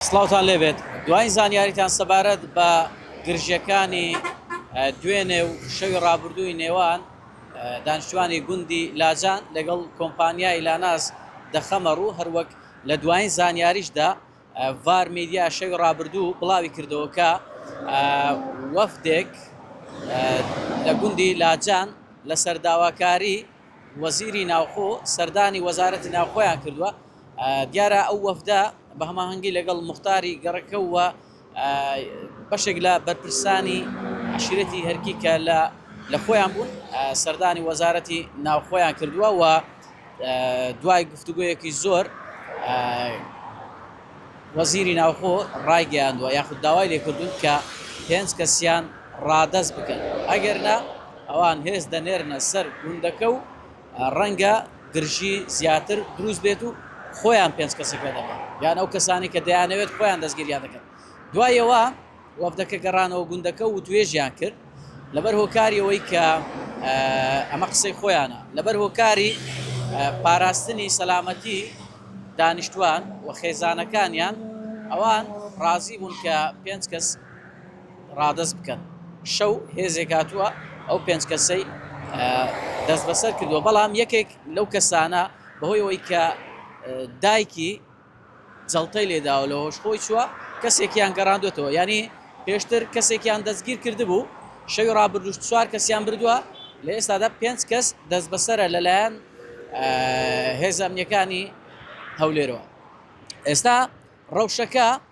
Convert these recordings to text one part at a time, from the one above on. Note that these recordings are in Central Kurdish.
سڵاوتان لێ بێت دواین زانیاریتان سەبارەت بە گرژیەکانی دوێنێ و شەوی ڕابردووی نێوان دانیشتوانی گوندی لاجان لەگەڵ کۆمپانیای لاناس دەخەمە ڕوو هەروەک لە دواین زانیاریشدا ڤار میدیا شەوی ڕابردوو بڵاوی کردەوە کە وەفدێک لە گوندی لاجان لەسەر داواکاری وەزیری ناوخۆ سەردانی وەزارەتی ناوخۆیان کردووە دیارە ئەو وەفدە بە هەماهەنگی لەگەڵ موختاری گەڕەکە و بەشێک لە بەرپرسانی عەشیرەتی هەرکی کە لە خۆیان بوون سەردانی وەزارەتی ناوخۆیان کردووە و دوای گفتوگۆیەکی زۆر وەزیری ناوخۆ ڕایگەیاندووە یاخود داوای لێکردوون کە پێنج کەسیان ڕادەست بکەن ئەگەر نا ئەوان هێز دەنێرنە سەر گوندەکە و ڕەنگە گرژی زیاتر دروست بێت و خۆیان پێنج کەسی پێ دەکەن یان ئەو کەسانەی کە دەیانەوێت خۆیان دەستگیریان دەکەن. دوای ئەوە وەفدەکە گەڕانەوە گوندەکە و وتوێژیان کرد لەبەر هۆکاری ئەوەی کە ئەمە قسەی خۆیانە لەبەر هۆکاری پاراستنی سەلامەتی دانیشتوان و خێزانەکانیان ئەوان ڕازی بوون کە پێنج کەس ڕادەست بکەن شەو هێزێک هاتووە ئەو پێنج کەسەی دەستبەسەر کردووە بەڵام یەکێک لەو کەسانە بەهۆی ئەوەی کە دایکی جەڵتەی لێداوە لە هۆش خۆی چووە کەسێکیان گەڕاندوێتەوە ینی پێشتر کەسێکیان دەستگیر کردبوو شەوی ڕابردوش چوار کەسیان بردووە لە ئێستادا پێنج کەس دەست بەسرە لەلایەن هێزەمنیەکانی هەولێرەوە ئێستا ڕەوشەکە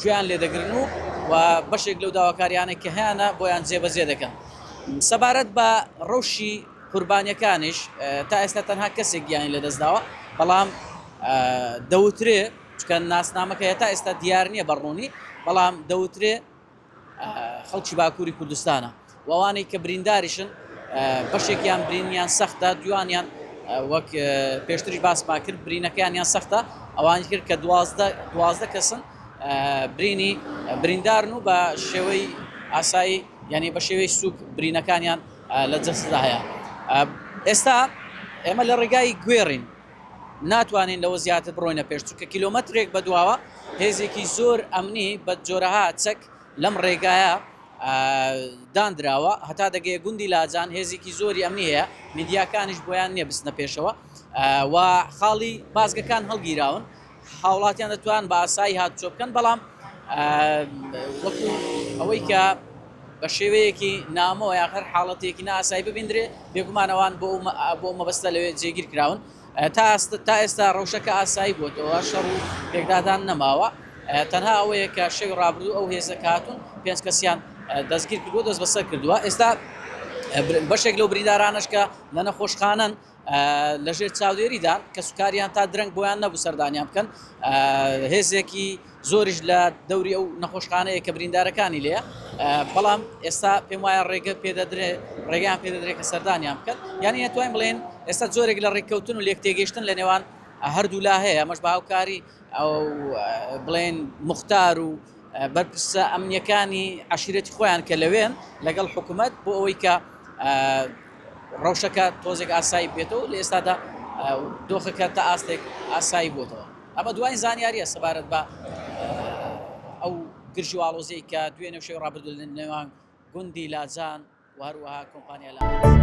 گوێیان لێ دەگرن و و بەشێک لەو داواکاریانە کە هەیانە بۆیان جێبەجێ دەکەن سەبارەت بە ڕەوشی قوربانیەکانیش تا ئێستا تەنها کەسێک گیانی لەدەستداوە بەڵام دەوترێ چکە ناسنامەکە هێتا ئێستا دیار نییە بەڕوونی بەڵام دەوترێ خەڵکی باکووری کوردستانە و ئەوانەی کە برینداریشن بەشێکیان برینیان سەختە دوانیان وەک پێشتریش باسما کرد برینەکەیان یان سەختە ئەوانی کرد کە دوازدە دوازدە کەسن برینی بریندارن و بە شێوەی ئاسایی یعنی بە شێوەی سوک برینەکانیان لە جەستدا هەیە ئێستا ئێمە لە ڕێگای گوێڕین ناتوانین لەوە زیاتر بڕۆینە پێش، چونکە کیلۆمەترێک بەدواوە هێزێکی زۆر ئەمنی بە جۆرەها چەک لەم ڕێگایە داندراوە هەتا دەگەیە گوندی لاجان هێزێکی زۆری ئەمنی هەیە میدیاکانیش بۆیان نییە بچنە پێشەوە و خاڵی بازگەکان هەڵگیراون هاوڵاتیان دەتوان بە ئاسایی هاتوچۆ بکەن بەڵام وەکو ئەوەی کە بە شێوەیەکی نامۆ یا هەر حاڵەتێکی ناسایی ببیندرێ بێگومانەوان بۆ بۆ مەبەستە لەوێ جێگیر کراون تا ئەستە تا ئێستا ڕەوشەکە ئاسایی بۆتەوە شەڕ و پێکدادان نەماوە تەنها ئەوەیە کە شەوی ڕابردوو ئەو هێزە کاتون پێنج کەسیان دەستگیر کردو دەست بەسەر کردووە ئێستا بەشێک لەو بریندارانش کە لە نەخۆشخانەن لە ژێر چاودێریدان کەسوکاریان تا درەنگ بۆیان نەبوو سەردانیان بکەن هێزێکی زۆریش لە دەوری ئەو نەخۆشخانەیە کە بریندارەکانی لێە بەڵام ئێستا پێم وایە ڕێگە پێدەدرێ ڕێگەیان پێدەدرێت کە سەردانیان بکەن یانی نتوانین بڵێن ئێستا زۆرێک لە ڕێککەوتن و لێک تێگەشتن لە نێوان هەردوولا هەیە ئەمەش باوکاری ئەو بڵێن مختار و بەرپرسە ئەمنیەکانی عەشیرەتی خۆیان کە لەوێن لەگەڵ حکومەت بۆ ئەوەی کە ڕەوشەکە تۆزێک ئاسایی بێتەوە لە ئێستادا دۆخەکە تا ئاستێک ئاسایی بۆتەوە ئەمە دوای زانیاریە سەبارەت بە ئەو گرژی واڵۆزەی کە دوێ نەوشەی ڕابردو لە نێوان گوندی لاجان و هەروەها کۆمپانیا لاجان.